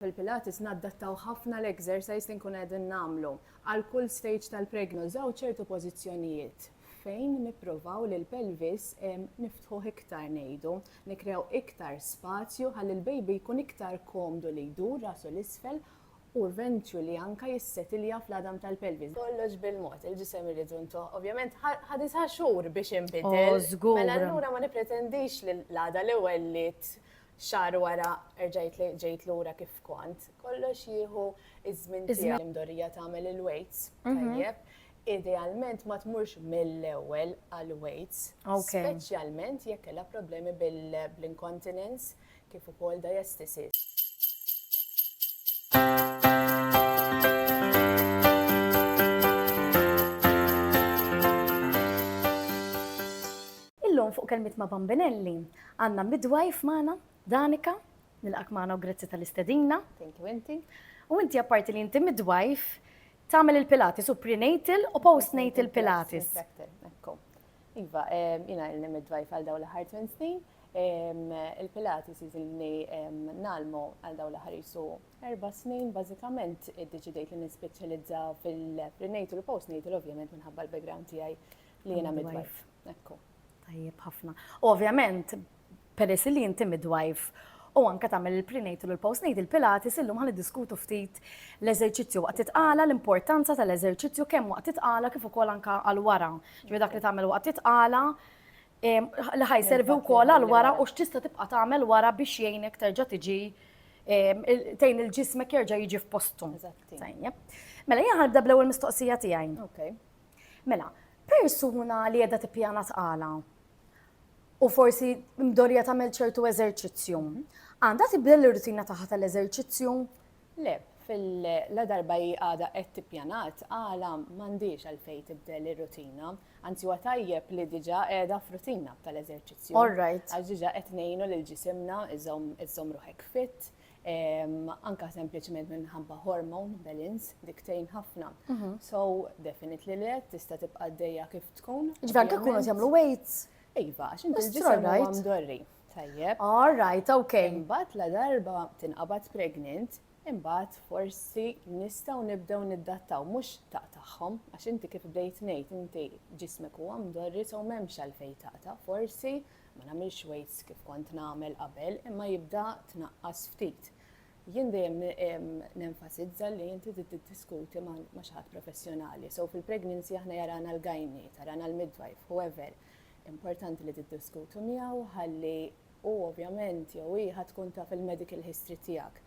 Fil-Pilates nadattaw ħafna l-exercise li nkunu qegħdin nagħmlu. Għal kull stage tal-pregna nużaw ċertu pożizzjonijiet fejn nippruvaw li l-pelvis niftħuh iktar ngħidu, nikkreaw iktar spazju ħalli l-baby jkun iktar komdu li jdur rasu 'l isfel u eventually anke jissetilja fl-għadam tal-pelvis. Kollox bil-mod, il-ġisem irridu ntuh. Ovvjament ħa disa' xhur biex inbidel. Mela allura ma nippretendix li l-għada li wellidt xahar wara erġajt ġejt lura kif kont. Kollox jieħu iż-żmien tiegħu. L-imdorrija tagħmel il-weights mhm. tajjeb. Idealment ma tmurx mill-ewwel għal weights, speċjalment jekk kellha problemi bil-incontinence kif ukoll diastasis. Illum fuq kelmiet ma' Bambinelli, Għandna midwife magħna, Danica. Nilqgħek magħna u grazzi tal-istedina. Thank you inti. U inti apparti li inti midwife, tagħmel il-Pilates u prenatal u postnatal Pilates. Iva, jiena ilni midwife għal dawn l-aħħar 8 snin. Il-Pilates jiżilni nalmu għal dawn l-aħħar jisu erba' snin bażikament iddeċidejt li nispeċjalizza fil-prenatal u postnatal ovvjament minħabba l-background tiegħi li jiena midwife. Ekku. Tajjeb ħafna. U ovvjament, peress li inti midwife u anke tagħmel il-prenatal u l-postnatal pilates illum ħan diskutu ftit l-eżerċizzju waqt titqala l-importanza tal-eżerċizzju kemm waqt titqala kif ukoll anke għal wara. Ġifieri dak li tagħmel waqt titqala li ħajservi wkoll għal wara u x'tista' tibqa' tagħmel wara biex jgħinek terġa' tiġi tgħin il-ġismek jerġa' jiġi f'postu. Mela jien ħanibda bl-ewwel mistoqsija tiegħi. Mela, persuna li qiegħda tippjana tqala u forsi mdorja tagħmel ċertu eżerċizzju, għandha tibdel ir-rutina tagħha tal-eżerċizzju? Le, fil-la darba hi għadha qed tippjana tqala m'għandhiex għalfejn tibdel ir-rutina, anzi huwa tajjeb li diġà qiegħda f'rutina tal-eżerċizzju. All right. Għax diġà qed ngħinu lil ġisimna iżomm ruħek fit, Anke sempliċement minħabba hormone imbalance, dik tgħin ħafna. So, definitely le, tista' tibqa' għaddejja kif tkun. Ġifieri anke jkunu qed jagħmlu weights? Iva, għax inti l-ġisem huwa mdorri. Tajjeb. All right, ok. Imbagħad la darba tinqabad pregnant, imbagħad forsi nistgħu nibdew niddattaw mhux taqtagħhom għax inti kif bdejt ngħid inti ġismek huwa mdorri so m'hemmx għalfejn taqta' forsi Ma nagħmilx weights kif kont nagħmel qabel imma jibda tnaqqas ftit. Jien dejjem nenfasizza li inti trid tiddiskuti ma' xi ħadd professjonali. So fil-pregnancy aħna jarana l-gynae, tarana l-midwife, whoever. Importanti li tiddiskutu miegħu ħalli u ovvjament jew hi ħa tkun taf il-medical history tiegħek.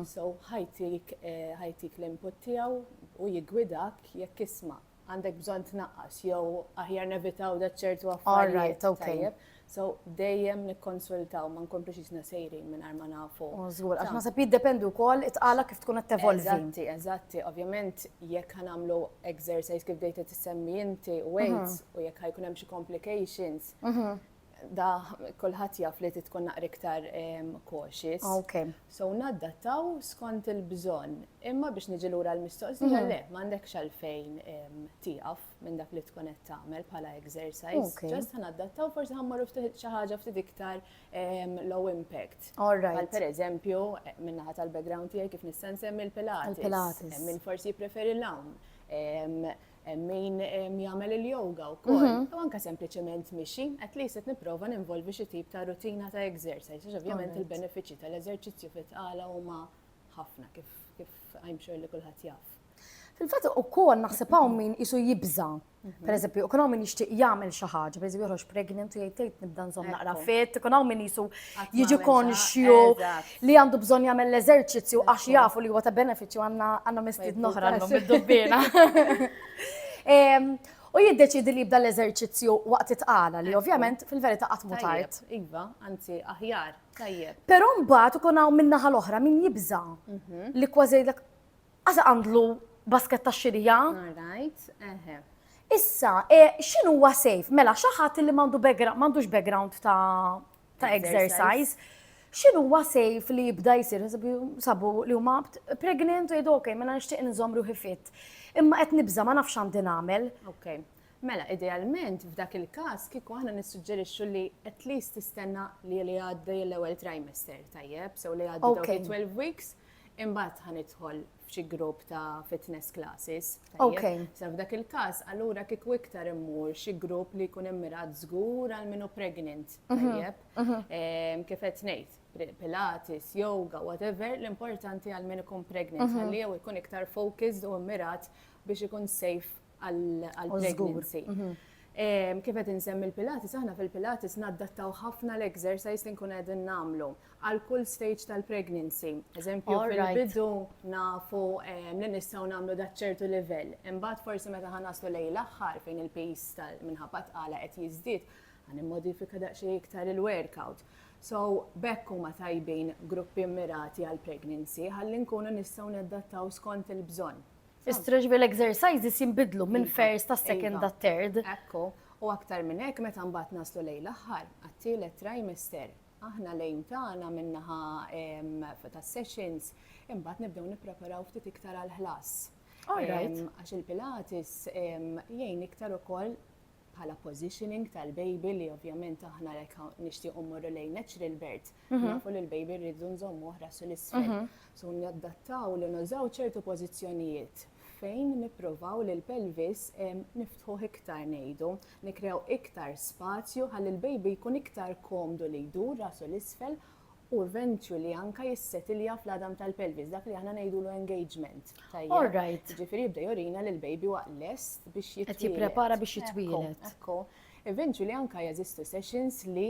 So ħa jtik l-input tiegħu u jiggwidak jekk isma'. għandek bżonn tnaqqas jew aħjar nevitaw da ċertu affarijiet. All right, okay. So dejjem nikkonsultaw ma nkomplux jisna sejrin minn ma nafu. Oh, żgur, għax naħseb jiddependu wkoll itqala kif tkun qed tevolvi. Eżatti, eżatti, ovvjament jekk ħanamlu exercise kif dejta tissemmi inti mhm. weights u jekk ħajkun hemm xi complications, mhm. da kulħadd jaf li tkun naqra iktar cautious. Ok. So naddattaw skont il-bżonn. Imma biex niġi lura l-mistoqsija mhm. le, m'għandekx għalfejn tieqaf minn dak li tkun qed tagħmel bħala exercise. Ġest naddattaw forsi ħammorru ftit xi ħaġa ftit iktar low impact. Għal per eżempju, minnaħa tal-background tiegħi kif nista' nsemmi l-Pilates. Min forsi jippreferi l-hawn hemm min jagħmel il-yoga wkoll, mhm. u anke sempliċement mixi, at least qed nipprova ninvolvi xi tip ta' rutina ta' exercise, għax ovvjament il-benefiċċji tal-eżerċizzju fit-tqala huma ħafna kif kif I'm sure li kulħadd jaf. Fil-fatt ukoll naħseb hawn min isu jibża. Mhm. Per eżempju, u hawn min jixtieq jagħmel xi ħaġa, per eżempju joħroġ pregnant u jgħid tgħid nibda nżomm naqra fit, ikun hawn min isu jiġi konxju. li għandu bżonn jagħmel l-eżerċizzju għax jafu li huwa ta' benefiċċju għandna għandna mistiedna oħra llum id-dubbiena. U jiddeċidi li jibda l-eżerċizzju waqt it-tqala li ovvjament fil-verità qatt mhu tard. Iva, anzi aħjar, tajjeb. Però mbagħad ikun hawn min-naħa l-oħra min jibża mhm. li kważi jgħidlek għasa għandlu basket ta' xirija. Right, eħe. Issa, e, x'inhu huwa safe? Mela xi ħadd li m'għandu background, m'għandux background ta' ta' exercise. Xinu huwa sejf li jibda jisir, sabu li huma pregnant u jgħidu ok, mela nixtieq nżomm ruħi fit. Imma qed nibża' ma nafx għandi nagħmel. Ok. Mela, idealment, f'dak il-każ, kieku aħna nissuġġerixxu li at least tistenna li li għaddi l-ewwel trimester, tajjeb, sew li għaddi 12 weeks, imbagħad ħanidħol f'xi grupp ta' fitness classes. Ok. Sa f'dak il-każ, allura kieku iktar immur xi grupp li jkun immirat żgur għal minu pregnant. Mhm, Tajjeb. Mhm. Ehm, Kif qed ngħid, pri- pilates, yoga, whatever, l-importanti għal min ikun pregnant Mhm. għalli jew ikun iktar focused u mmirat biex ikun safe għall-pregnancy. Kif qed insemmi l-Pilates, aħna fil-Pilates naddattaw ħafna l-exercise li nkun qegħdin nagħmlu għal kull stage tal-pregnancy. Eżempju, fil-bidu nafu li nistgħu nagħmlu dak ċertu livell. Imbagħad forsi meta ħa naslu lejn l-aħħar fejn il-pis minħabba tqala qed jiżdied, ħa nimmodifika daqsxejn iktar il-workout. So, b'hekk huma tajbin gruppi mmirati għall-pregnancy ħalli nkunu nistgħu naddattaw skont il-bżonn. Is-stretch bil-exercises jinbidlu minn iva, first ta' second ta' iva. third. Ekku, u aktar minn hekk meta mbagħad naslu lejn l-aħħar għat-tielet trimester. Aħna lejn tagħna minnaħa tas-sessions imbagħad nibdew nippreparaw ftit iktar għall-ħlas. Għax il-Pilates jgħin iktar ukoll bħala positioning tal-baby li ovvjament aħna lek nixtiequ mmorru lejn natural birth, mhm. nafu li l-baby rridu nżommu oħra sul isfel mhm. So nadattaw li nużaw ċertu pożizzjonijiet fejn nippruvaw li l-pelvis niftħu iktar ngħidu, nikrew iktar spazju ħalli l-baby jkun iktar komdu li jdur rasu l-isfel u ventrju li anka jissetilja fl-għadam tal-pelvis, dak li aħna ngħidulu engagement. Tajjeb. All right. Ġifieri jibda jorina li l-baby huwa lest biex jitwieled. Qed jipprepara biex jitwieled. Ekku. Ventrju li anka jeżistu sessions li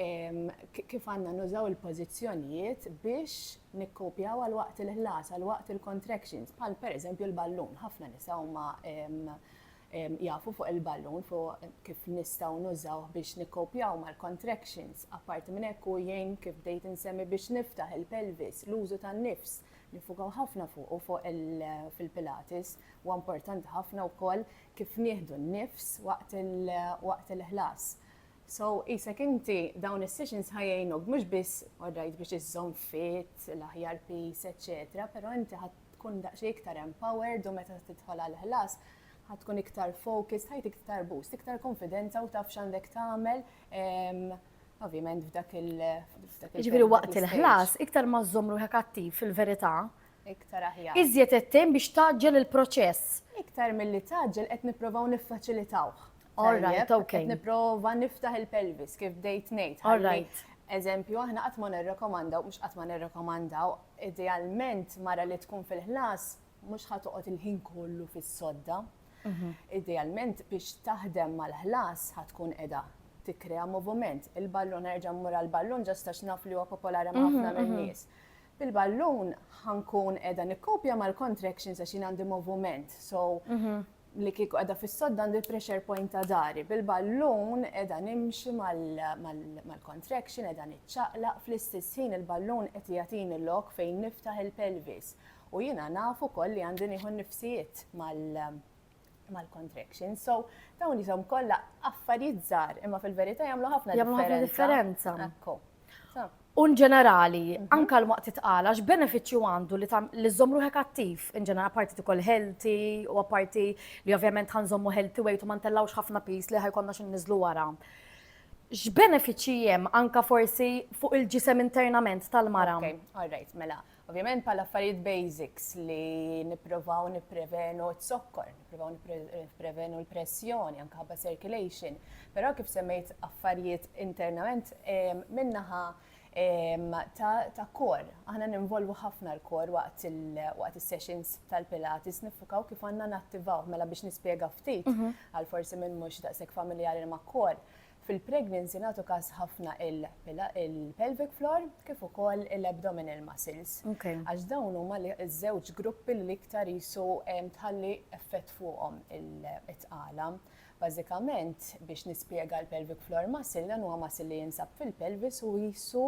ehm, kif għandna nużaw il-pożizzjonijiet biex nikkopjaw għal waqt il-ħlas, għal waqt il-contractions, bħal pereżempju l-ballun, ħafna nisa huma ehm, jafu fuq il-ballun fuq kif nistgħu nużawh biex nikkopjaw mal-contractions. Apparti minn hekk hu jgħin kif bdejt insemmi biex niftaħ il-pelvis, l-użu tan-nifs. Niffukaw ħafna fuqu fuq fil-Pilates. Huwa importanti ħafna wkoll kif nieħdu n-nifs waqt waqt il-ħlas. So qisek inti dawn is-sessions ħa jgħinuk mhux biss alright biex iżżomm fit, l-aħjar peace eċċetera, però inti ħa tkun daqsxejn iktar empowered u meta tidħol għall-ħlas ħa tkun iktar focused, ħajtik iktar boost, iktar konfidenza u taf x'għandek tagħmel ovvjament f'dak il f'dak il Ġifieri waqt il-ħlas iktar ma żżomm ruħek attiv fil-verità. Iktar aħjar. Iżjed qed biex taġġel il-proċess. Iktar milli taġġel qed nipprovaw niffaċilitawh. All right, ok. Qed nipprova niftaħ il-pelvis kif bdejt ngħid. All right. Eżempju, aħna qatt ma nirrekomandaw, mhux qatt ma nirrekomandaw, idealment mara li tkun fil-ħlas mhux ħatoqgħod il-ħin kollu fis-sodda. Mhm. Idealment biex taħdem mal-ħlas ħatkun qiegħda tikkrea moviment. Il-ballun erġa' mmur għall-ballun ġastax naf li huwa popolari ma' mhm, ħafna mhm. min-nies. Bil-ballun ħankun qiegħda nikkopja mal-contractions għax jien għandi moviment. So li kieku qiegħda fis-sodd għandi l-pressure point ta' dari. Bil-ballun qiegħda nimxi mal-contraction, qiegħda niċċaqlaq fl-istess ħin il-ballun qed jagħtini lok fejn niftaħ il-pelvis. U jiena naf ukoll li għandi nieħu nifsijiet mal-contraction. So, dawn jisom kollha affarijiet żgħar, imma fil-verità jagħmlu ħafna differenza. Jagħmlu ħafna differenza. U nġenerali, mhm. anka l-waqt titqala, x'benefiċċju għandu li tam li żomm ruħek attiv, inġenerali parti tikol healthy u apparti li ovvjament ħanżommu healthy weight u ma ntellawx ħafna pis li ħajkonna xi niżlu wara. X'benefiċċji hemm anka forsi fuq il-ġisem internament tal-mara? Okay, all right, mela. Ovvjament bħala affarijiet basics li nipprovaw nipprevenu t-zokkor, nipprovaw nipprevenu l-pressjoni, anke ħabba circulation, però kif semmejt affarijiet internament minnaħa ta' kor. Aħna ninvolvu ħafna l-kor waqt il-sessions tal-Pilates, nifukaw kif għanna nattivaw, mela biex nispiega ftit, mhm. għal forsi minn mux daqsek familjari ma' kor. Fil-pregnancy nagħtu każ ħafna il-pelvic floor kif ukoll il-abdominal muscles. Għax dawn huma ż-żewġ gruppi li l-iktar qisu tħalli effett fuqhom it-tqala. Bażikament biex nispjega l-pelvic floor muscle dan huwa muscle li jinsab fil-pelvis u qisu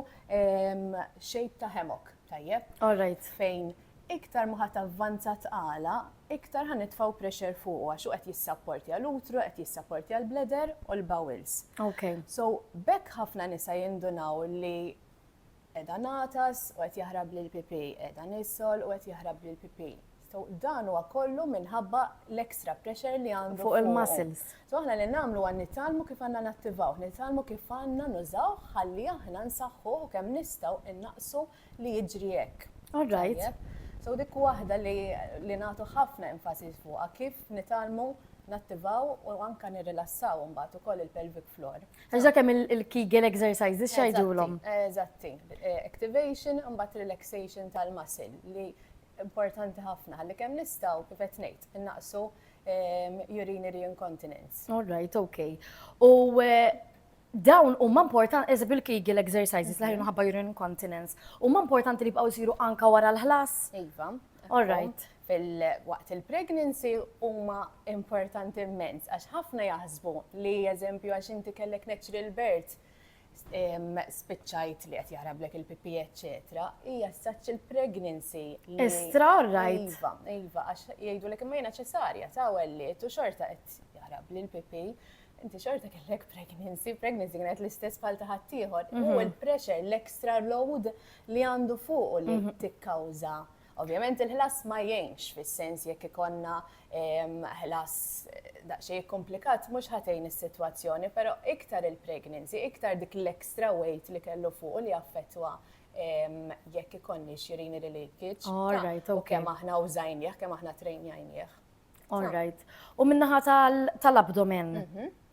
shape ta' hammock. Tajjeb? All right. Fejn iktar ma ħadd avvanza tqala, iktar ħa nitfgħu pressure fuq għax qed jissapportja l-utru, qed jissapportja l-bleder u l-bowels. Ok. So bekk ħafna nisa jindunaw li edha natas u qed jaħrab lil pipi, edha nisol u qed jaħrab lil pipi. So dan huwa kollu minħabba l-extra pressure li għandu fuq il-muscles. So aħna li nagħmlu huwa nitgħallmu kif għandna nattivawh, nitgħallmu kif għandna nużawh ħalli aħna nsaħħuh u kemm nistgħu innaqqsu li jiġri hekk. All right. Tajjeb? So dik waħda li li nagħtu ħafna enfasi fuqha kif nitgħallmu nattivaw u anke nirrilassaw imbagħad ukoll il-pelvic floor. Għax dak hemm il-Kegel exercises x'għidulhom? Eżatti. Activation imbagħad relaxation tal-muscle li importanti ħafna ħalli kemm nistgħu kif qed ngħid innaqsu urinary incontinence. All right, okay. U eh, dawn huma importanti eżempju l-Kegel exercises li ħajnu ħabba urinary incontinence. Huma importanti li bqgħu jsiru anka wara l-ħlas? Iva. All right. Fil-waqt il-pregnancy huma importanti immens għax ħafna jaħsbu li eżempju għax inti kellek natural birth spiċċajt li qed jaħrablek il-pipi eċetera, hija such il-pregnancy. Estra right. Iva, iva, għax jgħidu li imma jiena ċesarja ta' welliet u xorta qed jaħrab li l-pipi. Inti xorta kellek pregnancy, pregnancy kienet l-istess bħal ta' ħaddieħor. U mhm. l-pressure, l-extra load li għandu fuq li mhm. tikkawża. Mm -hmm Ovvjament il-ħlas ma jgħinx, fis-sens jekk ikollna ħlas daqsxejn ikkumplikat mhux ħa tgħin is-sitwazzjoni, però iktar il-pregnancy, iktar dik l-extra weight li kellu fuqu li affettwa jekk ikonniex urinary leakage u kemm aħna użajnieh, kemm aħna trainjajnieh. All right. U min-naħa tal-abdomen?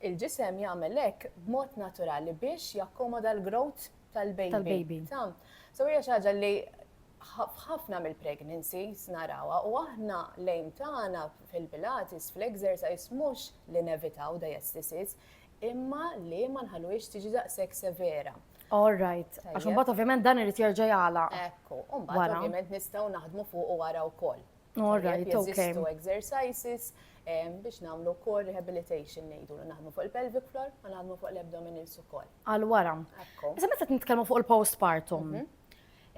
Il-ġisem jagħmel hekk b'mod naturali biex jakkomoda l-growth tal-baby. So hija xi ħaġa li f'ħafna mill-pregnancies narawha u aħna l-aim tagħna fil-Pilates, fl-exercise mhux li nevitaw diastasis imma li ma nħalluhiex tiġi daqshekk severa. All right. Għax imbagħad ovvjament dan irid jerġa' jagħlaq. Ekku, u mbagħad ovvjament nistgħu naħdmu fuqu wara wkoll. All right, okay. Jeżistu exercises biex namlu core rehabilitation nejdu li naħdmu fuq il-pelvic floor u naħdmu fuq l-abdominals ukoll. Għal wara. Issa meta nitkellmu fuq il-postpartum. Mhm.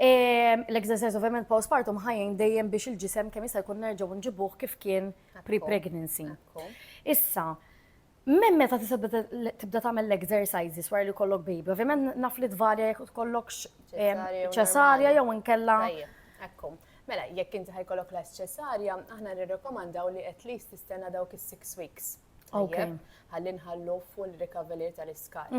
L-exercise ovvjament postpartum ħajjin dejjem biex il-ġisem kemm jista' jkun nerġgħu nġibuh kif kien pre-pregnancy. Issa, Minn meta tista' tibda tagħmel l-exercises wara li kollok baby, ovvjament naf li tvarja jekk tkollokx ċesarja jew inkella. Ekku. Mela, jekk inti ħajkollok last ċesarja, aħna nirrekomandaw li at least tistenna dawk is-six weeks. Ok. Ħalli nħallu full recovery tal-iskar.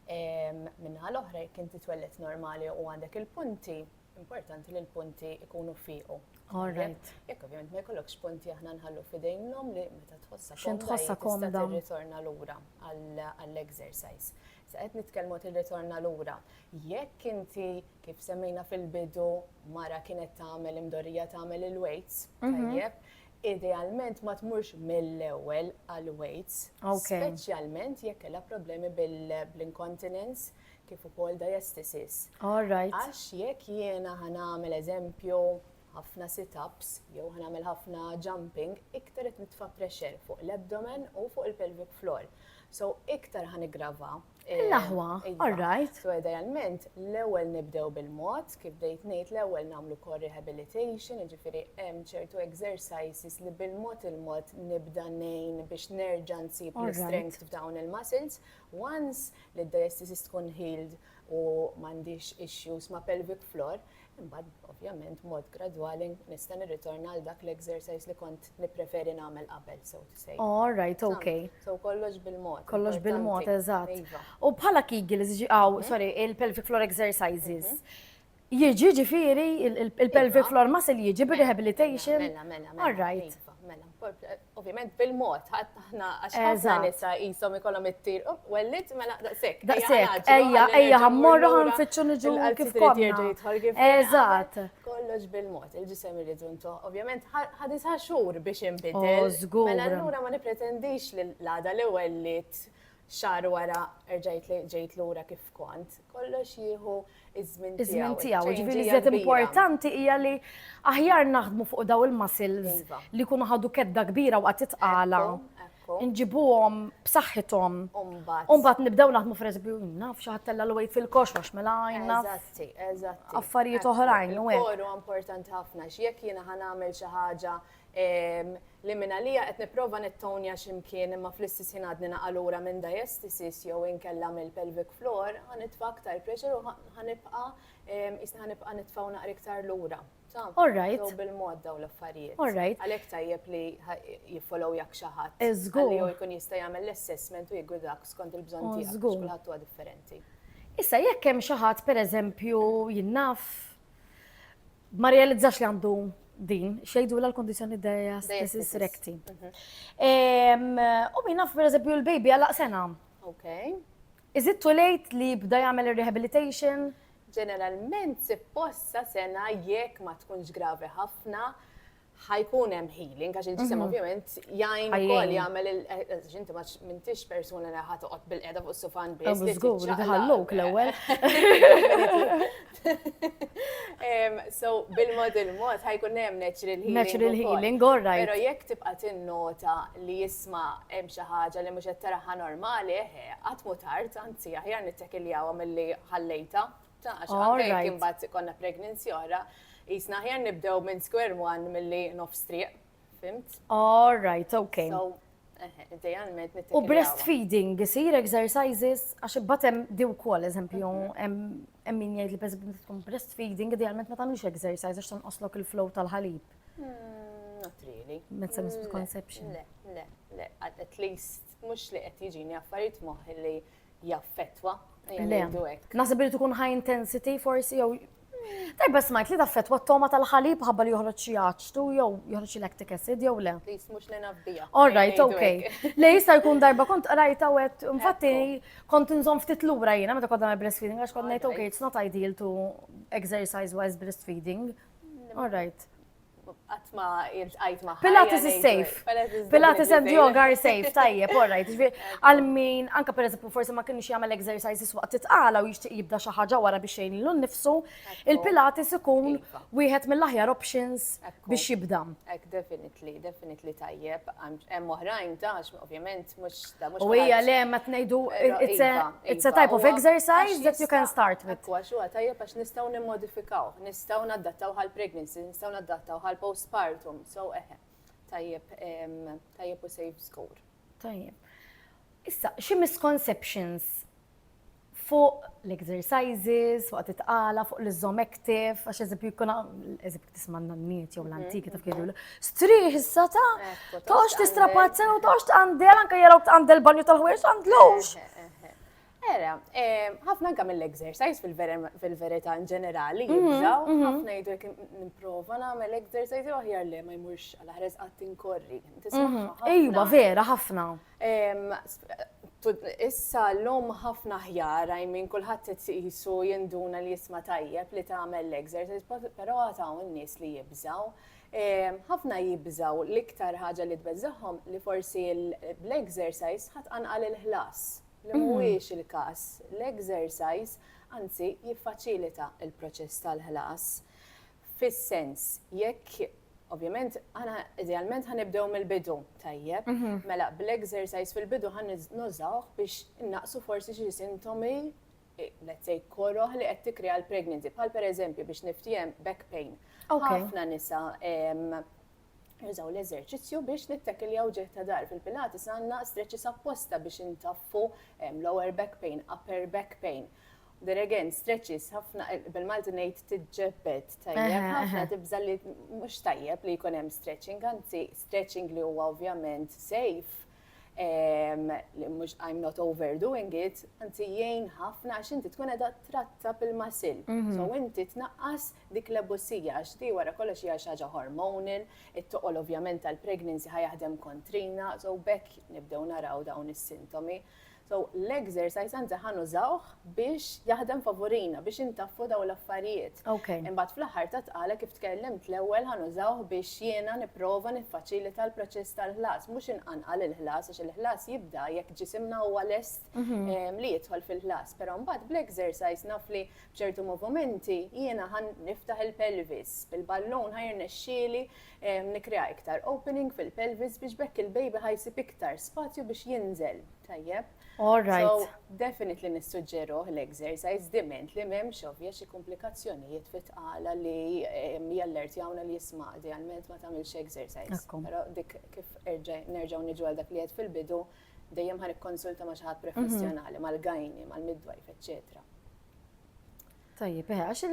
Minna l-oħra jekk inti twellet normali u għandek il-punti, Importanti li l-punti ikunu fiqu. All right. Jekk ovvjament ma jkollokx punti aħna nħallu fidejn l-om li meta tħossa X'int tħossa komda. Tista' tirritorna lura għall-exercise. Sa qed nitkellmu tirritorna lura. Jekk inti kif semmejna fil-bidu mara kienet tagħmel imdorrija tagħmel il-weights, tajjeb, idealment ma tmurx mill-ewwel għal-weights. Speċjalment jekk kellha problemi bil-incontinence kif ukoll diastasis. All right. Għax jekk jiena ħanamel eżempju ħafna sit-ups jew ħanamel ħafna jumping, iktar qed nitfa' pressure fuq l-abdomen u fuq il-pelvic floor. So iktar ħanigrava. Eh, L-aħwa, iva. all right. So idealment, l-ewwel nibdew bil-mod, kif dejt ngħid l-ewwel nagħmlu core rehabilitation, jiġifieri hemm ċertu exercises li bil-mod il-mod nibda nejn biex nerġa' nsib l-strength f'dawn il-muscles. Once li d-diastasis tkun healed u m'għandix issues ma' pelvic floor, imbagħad ovvjament b'mod gradwali nista' nirritorna għal dak l-exercise li kont nippreferi nagħmel qabel, so to say. Oh, all right, okay. So kollox bil-mod. Kollox bil-mod, eżatt. Iva. U bħala Kegels, ġi għaw, mhm. sorry, il-pelvic floor exercises. Mhm. Jiġi ġifiri il-pelvic floor muscle jiġi b'rehabilitation. Mela, mela, mela. All right. Mela, mela ovvjament bil-mod, ħatna għax ħafna nisa jisom ikolom it-tir, oh, wellit, mela daqsek. Daqsek, ejja, ejja, ħammorru ħanfittxu nġu kif konna. Eżat. Kollox bil-mod, il-ġisem irridu ntuħ, ovvjament ħadisa xur biex imbidel. Oh, mela l-lura ma nipretendix l-għada li wellit xahar wara erġa' jgħidli ġejt lura kif kont, kollox jieħu ż-żmien tiegħu. Iż-żmien tiegħu, ġifieri iżjed importanti hija li aħjar naħdmu fuq dawn il-muscles iva. li jkunu ħadu kedda kbira waqt it-tqala. Nġibuhom b'saħħithom. U mbagħad nibdew naħdmu f'reżbi naf xi ħadd tella l fil-kox għax mela għajna. Eżatti, eżatti. Affarijiet oħrajn u hekk. Koru importanti ħafna x'jekk jiena ħanagħmel xi ħaġa li mingħalija qed nipprova nittownja xi mkien imma fl-istess ħin għadni naqa' lura minn diastasis jew inkella mill-pelvic floor, ħa nitfa' aktar pressure u ħa nibqa' qisni ħa nibqa' nitfa' u naqra iktar lura. Taf? All right. Jew bil-mod dawn l-affarijiet. All right. Għalhekk tajjeb li jiffolowjak xi ħadd. Żgur. Li hu jkun jista' jagħmel l-assessment u jiggwidak skont il-bżonn tiegħek. Żgur. Għax kulħadd huwa differenti. Issa jekk hemm xi ħadd pereżempju jien naf Ma realizzax li għandu din, xejdu l kondizjoni dejja stessis rekti. U minna per eżempju l-baby għalaq sena. Ok. Is it too late li bda jagħmel rehabilitation? Ġeneralment se possa sena jekk ma tkunx gravi ħafna, ħajkun hemm healing, għax il-ġisem ovvjament jgħin ukoll jagħmel il-għax inti ma m'intix persuna li ħa toqgħod bil-qiegħda fuq sufan biss. Żgur, ħalluk l-ewwel. So bil-mod il-mod ħajkun hemm natural healing. Natural healing, all right. Però jekk tibqa' tinnota li jisma' hemm xi ħaġa li mhux qed taraha normali, qatt mu tard, anzi aħjar nittekiljawa milli ħallejta. Ta' għax anke jekk imbagħad ikollna pregnancy oħra, jisna aħjar nibdew minn square one milli nofs triq. Fimt? All right, okay. So, idealment nittikiljaw. U breastfeeding isir exercises għax imbagħad hemm di wkoll eżempju mhm. hemm min jgħid li pereżempju tkun breastfeeding idealment ma tagħmlux exercise għax tonqoslok il-flow tal-ħalib. Hmm, not really. Mezza hmm, misconception. Le, le, le, at least mhux li qed jiġini affarijiet moħħ li jaffettwa. Nasib li tkun high intensity forsi jew Tajba smajt li taffetwa t-toma tal-ħalib ħabba li joħroġ xi aċtu jew joħroġ xi lactic acid jew le. Please mhux li nafdija. All right, okay. Le jista' jkun darba kont qrajta wet, infatti kont inżomm ftit lura jiena meta kont nagħmel breastfeeding għax kont ngħid okay, it's not ideal to exercise while breastfeeding. All right. Qatt ma iltqajt ma' Pilates is safe. Pilates and yoga are safe, tajjeb, all right. Għal min, anka per eżempju, forsi ma kienx jagħmel exercises waqt titqala u jixtieq jibda xi ħaġa wara biex jgħin lilu nnifsu, il-Pilates ikun iva. wieħed mill-aħjar options biex jibda. Ek, definitely, definitely tajjeb. Hemm oħrajn tax, ovvjament, mhux da mhux. U hija le ma tnejdu it's a iva, iva. type of exercise that you can start with. Għax huwa tajjeb għax nistgħu nimmodifikaw, Nistgħu naddattawh għal pregnancy, nistgħu naddattawh għal postpartum, so eħe. Tajjeb, tajjeb u save score. Tajjeb. Issa, xi misconceptions fuq l-exercises, fuq titqala, fuq l-izzom active, għax eżempju jkun eżempju tisma' n-nanniet jew l-antiki mhm. taf kienu striħ issa ta' tox tistrapazza u tox tqandel anke jaraw tqandel banju tal-ħwejs għandlux. Vera, ħafna anke mill-exercise fil-verità in ġenerali jibżaw, ħafna jgħidu jekk nipprova nagħmel exercise jew aħjar le ma jmurx għal ħares qatt inkorri. Ejwa, vera, ħafna. Issa l-lum ħafna ħjar, I mean, kulħadd qed iqisu jinduna li jisma' tajjeb li tagħmel l-exercise, però għad hawn nies li jibżaw. Ħafna jibżaw l-iktar ħaġa li tbeżżagħhom li forsi bl-exercise ħa tqanqal il-ħlas. li mhuwiex il-każ, l-exercise anzi jiffaċilita l-proċess tal-ħlas fis-sens jekk Ovvjament, aħna idealment ħa nibdew mill-bidu, tajjeb. Mhm. Mela, bl-exercise fil-bidu ħan nużawh biex naqsu forsi xi sintomi, eh, let's say, koroħ li qed tikkrea l-pregnancy, bħal pereżempju biex niftijem back pain. Ħafna nisa Nużaw l-eżerċizzju biex nittekiljaw ġieħ ta' dar. Fil-Pilates għandna stretches apposta biex intaffu lower back pain, upper back pain. There again, stretches, ħafna, bil-Malti ngħid tiġġebbed tajjeb, ħafna tibża li mhux tajjeb li jkun hemm stretching, anzi stretching li huwa ovvjament safe, li mhux I am not overdoing it, anzi jgħin ħafna għax inti tkun qiegħda tratta bil-masil. Mhm. So inti tnaqqas dik l-ebusija għax di wara kollox hija xi ħaġa hormonal, it-toqol ovvjament tal-pregnancy ħa jaħdem kontrina, so bekk nibdew naraw dawn is-sintomi. So, l-exercise anzi ħa nużawh biex jaħdem favurina, biex intaffu daw l-affarijiet. Okay. Imbagħad fl-aħħar ta' tqala kif tkellimt l-ewwel ħa nużawh biex jiena nipprova niffaċilita l-proċess tal-ħlas, mhux inqanqal il-ħlas għax il-ħlas jibda jekk ġisimna huwa lest Mhm. em, li jidħol fil-ħlas. Però mbagħad bl-exercise naf li b'ċertu movimenti jiena ħan niftaħ il-pelvis, bil-ballun ħajr nexxieli Nikkrea iktar opening fil-pelvis biex b'hekk il-baby ħa jsib iktar spazju biex jinżel. Tajjeb. All right. So, definitely nissuġġeruh l-exercise diment li m'hemmx ovvja xi komplikazzjonijiet fit-tqala li jallertjawna li jisma' idealment ma tagħmilx exercise. Però dik kif nerġgħu niġu għal dak li qed fil-bidu dejjem ħan ikkonsulta ma' xi ħadd professjonali, mal-gajni, mal-midwife, eċċetera. Tajjeb, eh, għax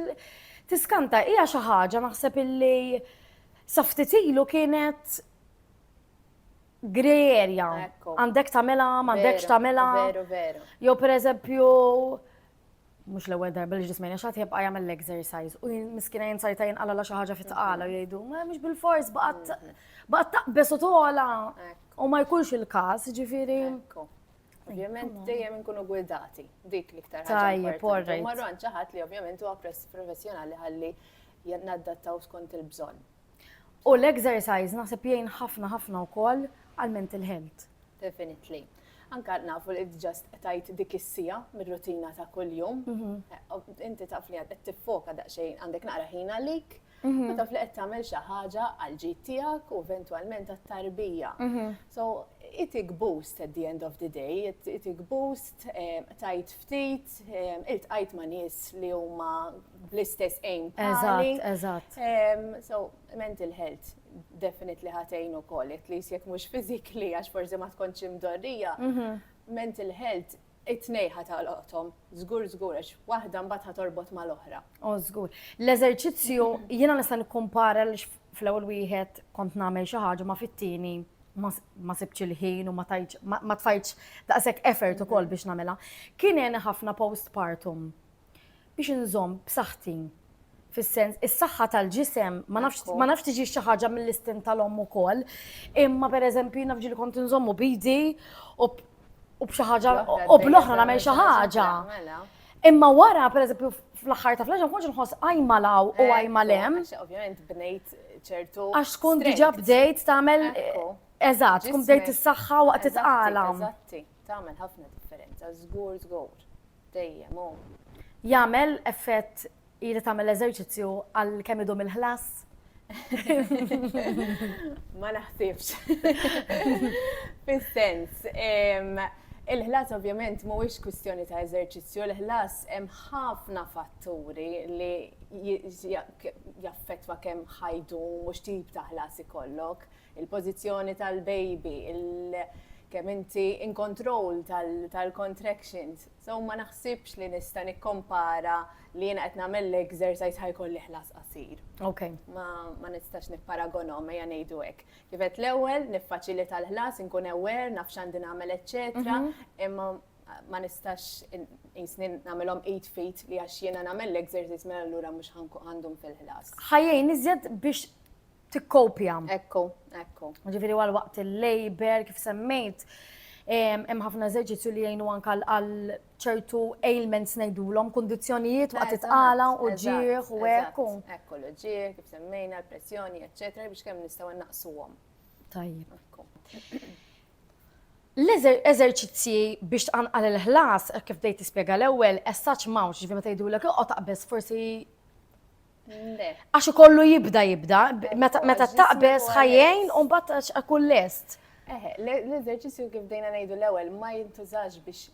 tiskanta hija xi ħaġa naħseb illi saftitilu kienet grey area. Għandek tamela, m'għandekx tamela. Veru, veru. Jo per eżempju, mux l-ewel darba li ġismejna xaħt jibqa jgħamil l-exercise u miskina jinsajta jinqala la xaħġa fit tqala mhm. jgħidu, ma mux bil-fors baqat mhm. taqbes u tola u ma jkunx il-kas ġifiri. Ovvjament dejjem inkunu gwidati, dik l-iktar ħaġa. Tajjeb, Marron ċaħat li ovvjament huwa professjonali ħalli naddattaw skont il-bżonn. U l-exercise naħseb jgħin ħafna ħafna wkoll għal mental health. Definitely. Anka nafu li ġast tajt dik is-sija mir-rutina ta' kuljum. Mhm. Inti taf li qed tiffoka daqsxejn għandek naqra ħin għalik. Tkun taf li qed tagħmel xi ħaġa għall-ġid tiegħek u eventwalment għat-tarbija. So, itik boost at the end of the day, itik boost, qtajt ftit, iltqajt ma' nies li huma bl-istess aim bħali. Eżatt, eżatt. So, mental health definitely ħa tgħin ukoll, at least jekk mhux physically għax forsi ma tkontx imdorrija, mental health. It-tnejn ħa tagħloqthom, żgur żgur, għax waħda mbagħad ħa torbot mal-oħra. O żgur. L-eżerċizzju jiena nista' nikkumpara għaliex fl-ewwel wieħed kont nagħmel xi ħaġa ma fit-tieni ma sibtx il-ħin u ma tajtx ma tfajtx daqshekk effort ukoll biex nagħmilha. Kien għeni ħafna postpartum biex inżomm b'saħħti fis-sens is-saħħa tal-ġisem ma nafx ma nafx tiġi xi ħaġa mill-istin tal-omm ukoll. Imma pereżempju naf ġieli kont inżommu bidi u b- u b'xi ħaġa u bl-oħra nagħmel xi ħaġa. Mela. Imma wara, per eżempju, fl-axħar ta' fl-ġan, konġ nħoss għajma law u għajma lem. Għax ovvjament bnejt ċertu. Għax tkun diġa bdejt tagħmel. Ekku. Eżatt, tkun bdejt Ġismek. is-saħħa waqt Eżatti, it-tqala. Eżatti, tagħmel ħafna differenza, żgur żgur. Dejjem hu. Jagħmel effett ili tagħmel l-eżerċizzju għal kemm idum il-ħlas? Ma naħsibx. Fis-sens, il-ħlas ovvjament mhuwiex kwistjoni ta' eżerċizzju, il-ħlas hemm ħafna fatturi li jaffettwa kemm ħajdum u x'tip ta' ħlas ikollok. il-pożizzjoni tal-baby, kemm inti in control tal-contractions. So ma naħsibx li nista' nikkompara li jiena qed nagħmel l-exercise ħa jkolli ħlas qasir. Ok. Ma nistax nipparagonhom ejja ngħidu hekk. Kif għedt l-ewwel, niffaċilita l-ħlas, inkun aware, naf x'għandi nagħmel eċċetera, imma ma nistax qisni nagħmilhom eight feet li għax jiena nagħmel l-exercise mela allura mhux ħa ndum fil-ħlas. Ħa jgħin iżjed biex tikkopja. Ekku, ekku. Ġifieri għal waqt il-labor kif semmejt hemm ħafna eżerċizzju li jgħinu anka għal ċertu ailments ngħidulhom, kundizzjonijiet waqt itqala u ġieħ u hekk. Ekku l-ġieħ, kif semmejna, l-pressjoni, eċċetera, biex kemm nistgħu naqsuhom. Tajjeb. L-eżerċizzji biex tqanqal il-ħlas, kif dejt tispjega l-ewwel, essaċ mawx, ġifieri meta jgħidulek oqgħod taqbeż forsi Għax ikollu jibda jibda, meta taqbeż ħajjejn u mbagħad akun lest. Eħe, l-eżerċizzju kif dejna ngħidu l-ewwel ma jintużax biex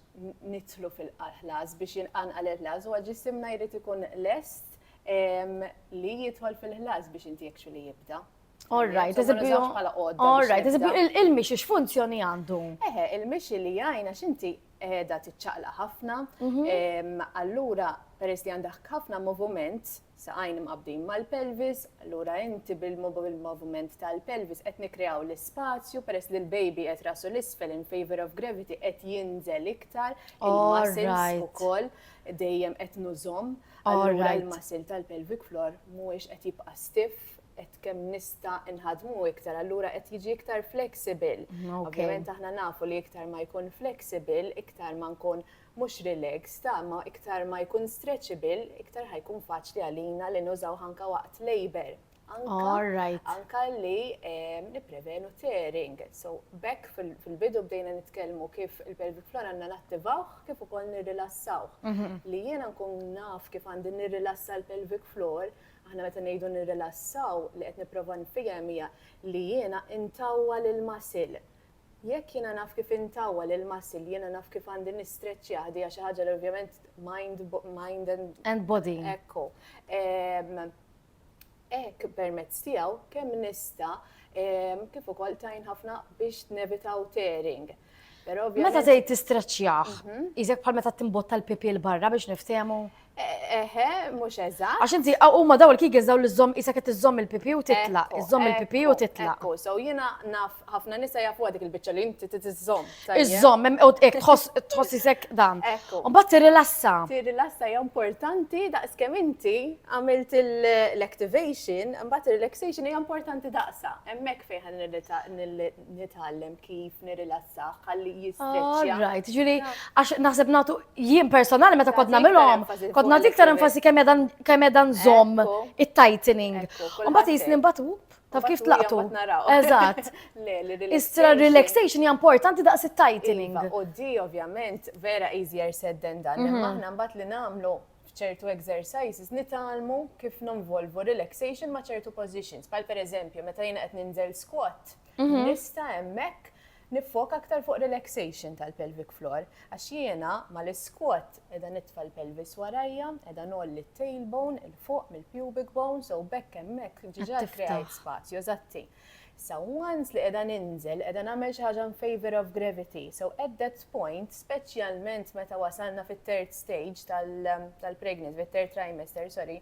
nitlu fil-ħlas biex jinqanqal il-ħlas u ġisimna jrid ikun lest li jidħol fil-ħlas biex inti jekxu li jibda. Orrajt, eżibju. Orrajt, eżibju, il-mixi x'funzjoni għandu? Eħe, il-mixi li jgħajna xinti edha tiċċaqla ħafna. Mhm. Allura, peress li għandek ħafna moviment, saqajn mqabdin mal-pelvis, allura inti bil-moviment tal-pelvis qed nikreaw l-ispazju, peress li l-baby qed rasu l-isfel in favor of gravity qed jinżel iktar, il-muscles ukoll dejjem qed nużom, allura il-muscle tal-pelvic floor mhuwiex qed jibqa' stiff. kif qed kemm nista' nħadmu iktar allura qed jiġi iktar flexible. Ovvjament aħna nafu li iktar ma jkun flexible, iktar ma nkun mhux relaxed, ta' ma iktar ma jkun stretchable, iktar ħajkun faċli għalina li nużaw ħanka waqt labor. Anka li ehm, nipprevenu tearing. So bekk fil-bidu bdejna nitkellmu kif il-pelvic floor għandna nattivawh kif ukoll nirrilassawh. Mhm. Li jiena nkun naf kif għandi nirrilassa l-pelvic floor Aħna meta ngħidu nirrilassaw, li qed nipprova nfiehem hija li jiena ntawwa lill-muscle. Jekk jiena naf kif intawwa lill-muscle, jiena naf kif għandi nistreċjah, di hija xi ħaġa li ovvjament mind, mind and. And body. Ekku. Hekk permezz tiegħu kemm nista' kif ukoll tgħin ħafna biex nevitaw tearing. Meta tgħid tistraċċjah, mhm. iżek bħal meta timbotta l-pipi l barra biex niftehmu. Eħe, mhux eżatt. Għax inti huma daw il-kigels daw l-żomm isek qed iżomm il-pipi u titlaq, iżomm il-pipi u titlaq. So jiena naf ħafna nisa jafu dik il-biċċa li inti tiżomm. Iżomm, hekk tħoss isek dan. Mbagħad tirrilassa. Tirrilassa hija importanti daqs kemm inti għamilt l-activation, mbagħad ir-relaxation hija importanti daqsa. Hemmhekk fejn nitgħallem kif nirilassah ħalli jistreċċja. Right, ġifieri għax naħseb nagħtu jien personali meta kont nagħmilhom, kont nagħti iktar enfasi kemm qiegħda nżomm it-tightening. Mbagħad jisni mbagħad whoop taf kif tlaqtu. Eżatt. Istra relaxation hija importanti daqs it-tightening. Iva, u di ovvjament vera easier said than done. Mhm. Aħna mbagħad li nagħmlu f'ċertu exercises nitgħallmu kif ninvolvu relaxation ma' ċertu positions, bħal pereżempju meta jiena qed ninżel squat, mhm. nista' hemmhekk niffoka aktar fuq relaxation tal-pelvic floor, għax jiena ma l-squat edha nitfa l-pelvis warajja, edha nolli t-tailbone il-fuq mill-pubic bone, so bekk hemmhekk ġiġa krejt spazju, eżatti. Issa once li qiegħda ninżel, qiegħda nagħmel xi ħaġa in favour of gravity. So at that point, speċjalment meta wasalna fit-third stage tal-pregnancy, fit-third trimester, sorry,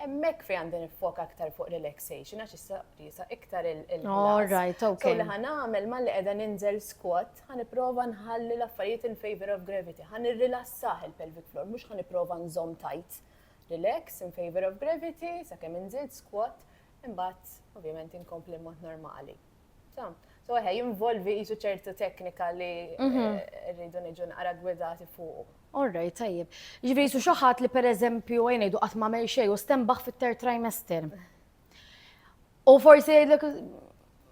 Emmek fej għandi nifok aktar fuq relaxation, għax issa jisa iktar il-ħlas. All right, ok. Kulli ħan għamel ma li edha ninżel squat, ħan iprofa nħalli l-affarijiet in favor of gravity, ħan irrilassaħ il-pelvic floor, mux ħan iprofa nżom tajt. Relax in favor of gravity, sa' kem nżid squat, imbagħad ovvjament inkompli mod normali. So, so eħe, jinvolvi jisu ċertu teknika li mhm. eh, rridu niġu naqra gwidati fuq. Orrej, tajjeb. Ġifieri jisu xaħat li per eżempju għajnejdu qatt ma xej u stembaħ fit-ter trimester. U forsi jgħidlek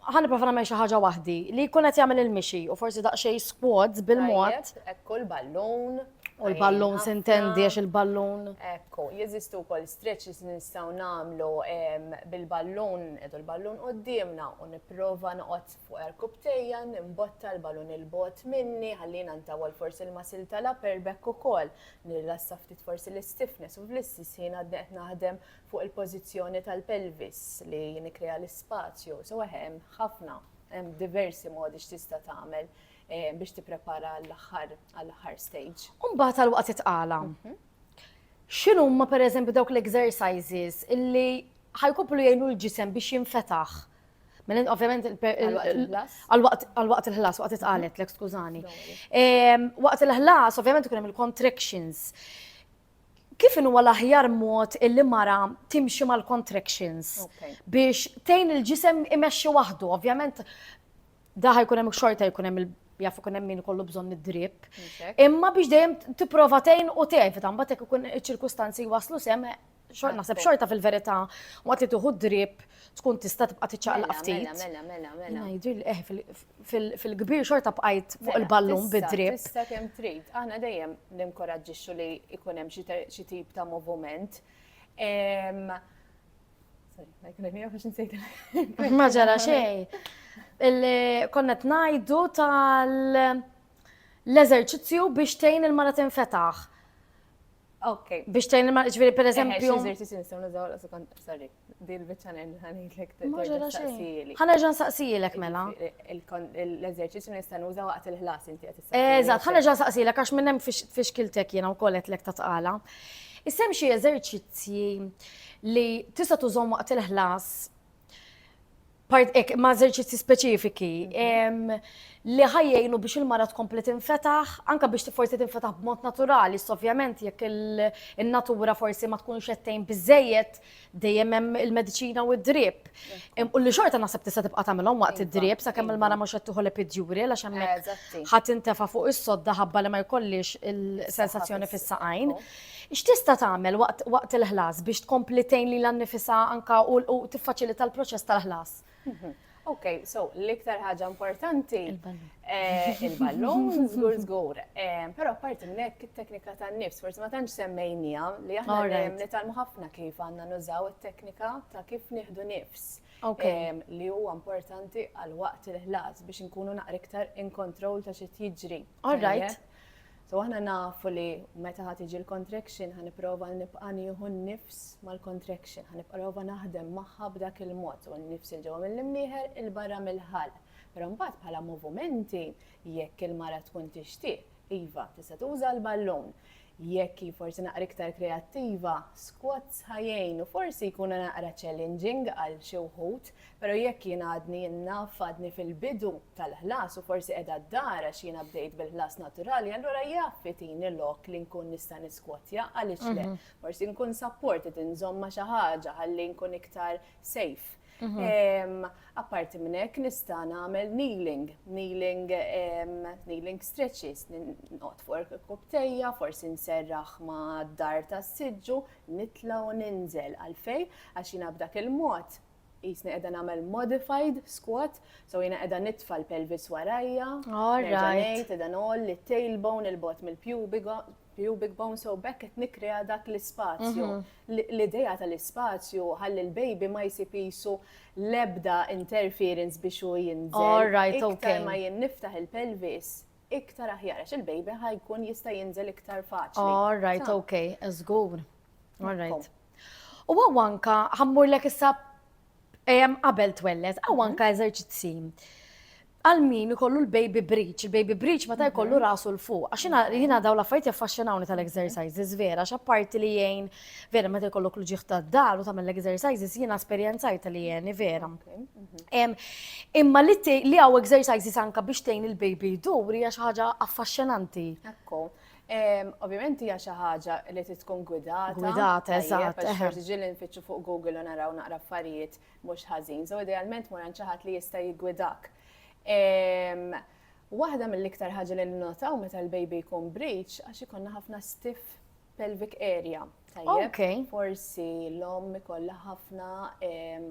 Ħa nipprova nagħmel xi ħaġa waħdi li jkun qed jagħmel il-mixi u forsi daqsxejn squads bil-mod. Ekku l-ballun. U l-ballun sintendi għax il-ballun. Ekku, jeżistu wkoll stretches li nistgħu nagħmlu bil-ballun, edu l-ballun qudiemna u nipprova noqgħod fuq erkubtejja, nimbotta l-ballun il-bot minni, ħallina ntawol forsi l-masil tal-upper back ukoll, nirrassa ftit forsi l-stiffness u fl-istess ħin għadni qed naħdem fuq il-pożizzjoni tal-pelvis li nikkrea l-ispazju. So hemm ħafna, hemm diversi modi x'tista' tagħmel eh, biex tipprepara għall-aħħar għall-aħħar stage. Umbagħad għal waqt itqala. Mhm. X'inhu ma pereżempju dawk l-exercises illi ħajkomplu jgħinu l-ġisem biex jinfetaħ. Mela ovvjament għal-waqt il-ħlas, waqt itqalet, l-ek skużani. Waqt il-ħlas, ovvjament ikun hemm il-contractions. Kif in huwa l-aħjar mod illi mara timxi mal-contractions biex tgħin il-ġisem imexxi waħdu? Ovvjament da ħajkun hemm xorta jkun hemm jaf ikun hemm min kollu bżonn id-drip. Imma biex dejjem tipprova tgħin u tevita mbagħad jekk ikun iċ-ċirkustanzi waslu sem naħseb xorta fil-verità waqt li tieħu drip tkun tista' tibqa' tiċċaqlaq ftit. Mela, mela, mela, mela. Ngħidil eh fil-kbir xorta bqajt fuq mela, il-ballun bid-drib. Tista' kemm trid, aħna dejjem ninkoraġġixxu li jkun hemm xi tip ta' moviment. Ma ġara xejn. Konna tnajdu tal-eżerċizzju biex tgħin il-mara tinfetaħ. Ok. Biex tgħin il-mara, ġifieri pereżempju. Eżerċizzju nistgħu nużaw sorry. Din biċċa ngħid ħanidlek tistaqsili. Ħanerġa' nsaqsilek mela. L-eżerċizzju nista' nuża waqt il-ħlas inti qed tistaqsili. Eżatt, ħanerġa' nsaqsilek għax minn hemm fixkiltek jiena wkoll qedlek ta' tqala. Isem xi eżerċizzji li tista' tużhom waqt il-ħlas part ek ma' eżerċizzi speċifiki li ħajjejnu biex il-mara tkompli tinfetaħ, anka biex forsi tinfetaħ b'mod naturali, ovvjament jekk il-natura forsi ma tkunx qed tgħin biżejjed dejjem hemm il-mediċina u d-drip. U li xorta naħseb tista' tibqa' tagħmilhom waqt id-drip sakemm il-mara mhux qed tieħu l-epidjuri għax hemmhekk ħadd intefa' fuq is-sodda ħabba li ma jkollix il-sensazzjoni fis-saqajn. X'tista' tagħmel waqt waqt il-ħlas biex tkompli tgħin lilha nnifisha anke u u tiffaċilita l-proċess tal-ħlas? Ok, so l-iktar ħaġa importanti. Il-ballun. Il-ballun, żgur żgur. Però apparti minn hekk it-teknika tan-nifs, forsi ma tantx semmejnija li aħna dejjem nitgħallmu ħafna kif għandna nużaw it-teknika ta' kif nieħdu nifs. Ok. Li huwa importanti għal waqt il-ħlas biex inkunu naqra iktar in control ta' xi qed jiġri. All right. So aħna nafu li meta ħa tiġi l-contraction ħa nipprova nibqa' nieħu n-nifs mal-contraction, ħa nipprova naħdem magħha b'dak il-mod u n-nifs il-ġewwa mill-imnieħer il-barra mill-ħalq. Però mbagħad bħala movimenti jekk il-mara tkun tixtieq, iva, tista' tuża l-ballun. Jekk hi forsi naqra iktar kreattiva, squats ħa jgħinu, forsi jkunu naqra challenging għal xi wħud, Pero jekk jien għadni naf għadni fil-bidu tal-ħlas u forsi qiegħda d-dar għax jiena bdejt bil-ħlas naturali allura jaf itini lok li nkun nista' niskwotja għaliex le? Forsi nkun supported inżomm ma' xi ħaġa ħalli nkun iktar safe. Apparti minn hekk nista' nagħmel kneeling, kneeling kneeling stretches, noqgħod fuq irkubtejja, forsi nserraħ mad-dar tas-siġġu, nitla' u ninżel għalfejn għax jiena b'dak il-mod Qisni qiegħda nagħmel modified squat, so jiena qiegħda nitfa' l-pelvis warajja. All right. Qiegħda nol li tailbone il-bot mill-pubic pubic bone so back qed nikrea dak l-ispazju. Mhm. L-idea tal-ispazju ħalli l-baby ma jsib isu l-ebda interference biex u jinżel. All right, ok. Iktar ma jien niftaħ il-pelvis, iktar aħjar għax il-baby ħajkun jista' jinżel iktar faċli. All right, ok, żgur. All right. U għaw anka, ħammur l issa ejem qabel twellet, għaw mhm. anka eżerċizzi. Għal min ikollu l-baby breach, il-baby breach ma ta' mhm. jkollu rasu l-fuq, għaxina jina daw la fajt jaffaxxinawni tal-exercises, vera, xapparti li jgħin, vera, ma ta' jkollu klu ġiħta d-dar u tamel l-exercises, jina esperienzajta li jgħin, vera. Mhm. Imma li għaw exercises anka biex tgħin il-baby duri għax ħaġa affaxxinanti. Ekku. Ovvjament hija xi ħaġa li trid tkun gwidata. Gwidata, eżatt. Għax tiġi li nfittxu fuq Google u naraw naqra affarijiet mhux ħażin. So idealment mor għand xi ħadd li jista' jiggwidak. Waħda mill-iktar ħaġa li nnotaw meta l-baby jkun breach għax ikonna ħafna stiff pelvic area. Tajjeb, forsi l-om ikolla ħafna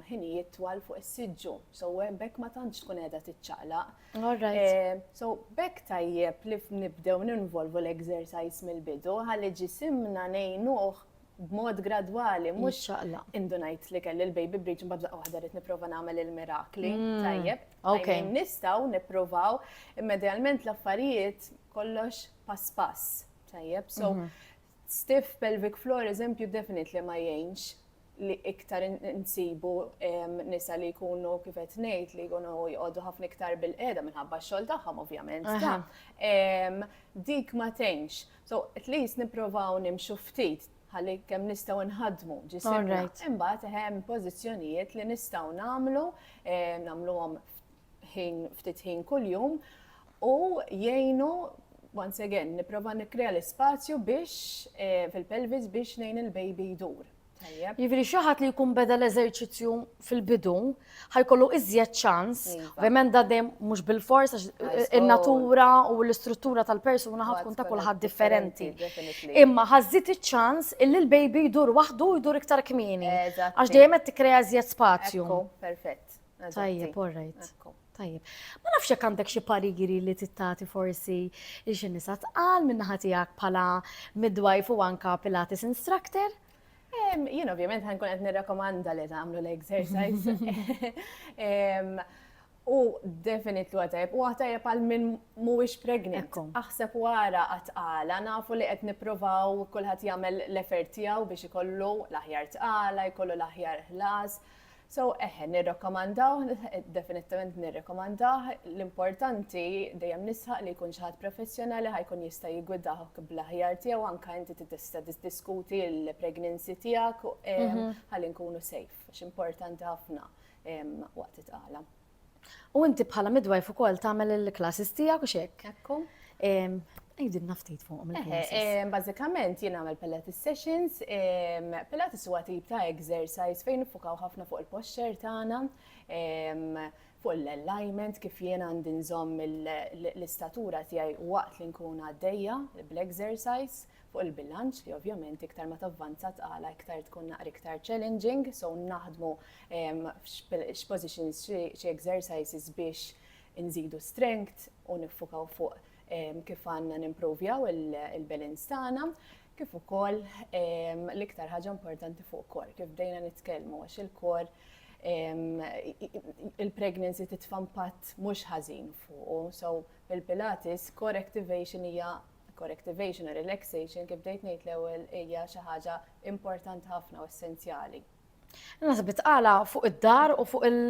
ħinijiet twal fuq is-siġġu, so hemmhekk ma tantx tkun qiegħda tiċċaqlaq. All right. So, b'hekk tajjeb li nibdew ninvolvu l-exercise mill-bidu, ħalli ġisimna ngħinuh b'mod gradwali, mhux xaqla. Indu ngħid li kelli l-baby breach mbagħad laqgħa waħda rid nipprova nagħmel il-mirakli. Mm. Tajjeb. Ok. Nistgħu nippruvaw immedjalment l-affarijiet kollox pass pass. Tajjeb. So, mhm. stiff pelvic floor eżempju definitely ma jgħinx li iktar insibu nisa li jkunu kif qed ngħid li jkunu jqogħdu ħafna iktar bil-qiegħda minħabba x-xogħol tagħhom ovvjament. Dik ma tgħinx. So at least nipprovaw nimxu ftit ħalli kemm nistgħu nħaddmu ġisimna. Imbagħad hemm pożizzjonijiet li nistgħu nagħmlu nagħmluhom ħin ftit ħin kuljum u jgħinu once again, niprofa nikrea l-spazju biex eh, fil-pelvis biex nejn il-baby jdur. Jivri xaħat li jkun beda l-eżerċizzju fil-bidu, ħajkollu iżjed ċans, iva. ovvijament da dem mux bil-fors, eh, il-natura u l-istruttura tal-persuna ħatkun ta' kullħat differenti. Imma ħazzit iċ-ċans illi l-baby jdur wahdu jdur iktar kmini. Għax dejjem qed tikrea iżjed spazju. Perfett. Tajjeb, all right. Tajjeb. Ma nafx jekk għandek xi pariri li tittati forsi li xi nisa tqal minn ħatijak bħala midwife u anka Pilates instructor? Jien ovvjament ħankun qed nirrakkomanda li tagħmlu l-exercise. U definit lu għatajb, u għatajb għal minn muwix pregnant. Aħseb wara għatqala, nafu li għet niprovaw kullħat jagħmel l-effort tiegħu biex ikollu l-aħjar tqala, jkollu l-aħjar ħlas. So, eħe, nirrakkomandawh, definittement nirrekomandah, l-importanti, dejjem nisħaq li jkun xi ħadd professjonali ħa jkun jista' jiggwidahk bl-aħjar tiegħu anke inti tista' tiddiskuti l-pregnancy tiegħek mhm. ħalli nkunu safe, x'importanti ħafna waqt it-tqala. U inti bħala midwife ukoll tagħmel il-classes tiegħek u x'hekk. Ekku. Għidilna ftit fuqhom il-classes. Bażikament jien nagħmel Pilates sessions, Pilates huwa tip ta' exercise fejn nifukaw ħafna fuq il-posture tagħna, fuq l-alignment kif jien għandi nżomm l-istatura tiegħi waqt li nkun għaddejja bl-exercise, fuq il-bilanċ li ovvjament iktar ma tavvanza tqala iktar tkun naqra iktar challenging, so naħdmu x'positions, xi exercises biex inżidu strength u niffukaw fuq kif għandna nimprovjaw il-balance tagħna, kif ukoll l-iktar ħaġa importanti fuq kor, kif bdejna nitkellmu għax il-kor il-pregnancy titfa' impatt mhux ħażin fuqu, so il-Pilates core activation hija Correctivation u relaxation, kif bdejt ngħid l-ewwel, hija xi ħaġa importanti ħafna u essenzjali. Naħseb tqala fuq id-dar u fuq il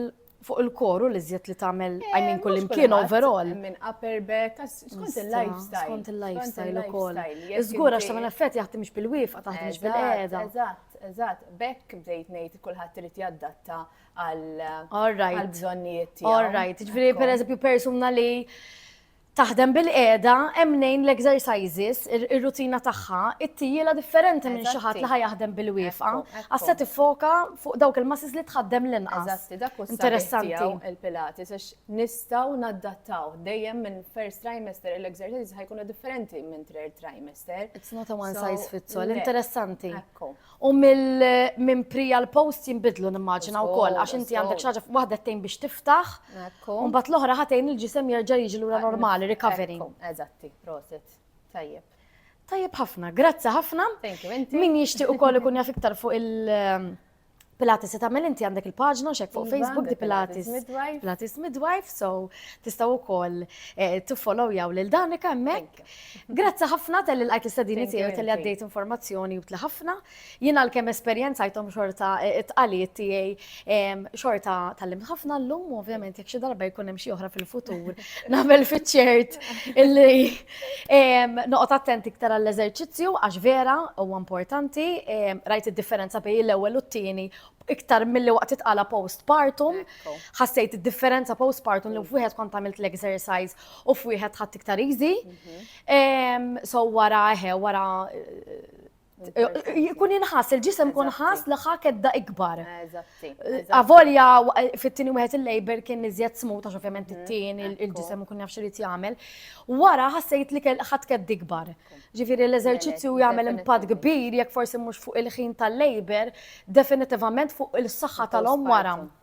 fuq il-koru li zjed li tagħmel eh, I mean kull imkien overall. Minn upper back, skont il-lifestyle. Skont il-lifestyle ukoll. Iżgur għax tagħmel effett jaħdem mhix bil-wifqa taħdem mhix bil-qiegħda. Eżatt, eżatt, bekk bdejt ngħid kulħadd irid jaddatta għal bżonnijiet tiegħu. All right, ġifieri pereżempju persuna li Taħdem bil-qiegħda, hemm mnejn l-exercises, ir-rutina tagħha, it-tjiela differenti minn xi ħadd li ħa jaħdem bil-wieqfa, għax se tiffoka fuq dawk il-muscles li tħaddem l-inqas. Eżatti, dak hu s-sabiħ tiegħu il-Pilates għax nistgħu nadattaw dejjem minn first trimester l-exercises ħa jkunu differenti minn third trimester. It's not a one size fits all, interessanti. Ekku. U mill minn pri għal post jinbidlu nimmaġina wkoll għax inti għandek xi ħaġa waħda tgħin biex tiftaħ. Ekku. U mbagħad l-oħra ħatejn il-ġisem jerġa' jiġi lura normali, recovery. Ekku, Eżatti, prosit. Tajjeb. Tajjeb ħafna, grazzi ħafna. Thank you, inti. Min jixtieq ukoll ikun jaf iktar fuq il- ehm, Pilates se tagħmel inti għandek il-paġna xek fuq Iva, Facebook di The Pilates Pilates. Midwife. Pilates Midwife, so tistgħu wkoll eh, tiffollowjaw lil Danika hemmhekk. Grazzi ħafna tal-li l-għajt l-istadini tiegħi u tal-li għaddejt informazzjoni u ħafna. Jien għal-kem esperienza jtom xorta eh, it-tqalijiet tiegħi ehm, xorta tal-lim ħafna l-lum, ovvjament jek xi darba jkun hemm xi oħra fil-futur. Nagħmel fiċ-ċert illi ehm, noqgħod attent iktar għall-eżerċizzju għax vera huwa importanti, ehm, rajt id-differenza bejn l-ewwel u t-tieni iktar mill-li waqt itqala postpartum, ħassejt id-differenza postpartum li mm. wieħed kont għamilt l-exercise U f'wieħed ħadd iktar easy. Mhm. So wara eħe, wara jkun inħas, il-ġisem kun ħas li ħaket da ikbar. Avolja fit-tini wieħed il-labor kien iżjed smut għax ovvjament mhm. it-tini il-ġisem kun jafx irid jagħmel. Wara ħassejt li ħadd kedd ikbar. Ġifieri l-eżerċizzju jagħmel impatt kbir jekk forsi mhux fuq il-ħin tal-labor, definitivament fuq il-saħħa tal-om wara.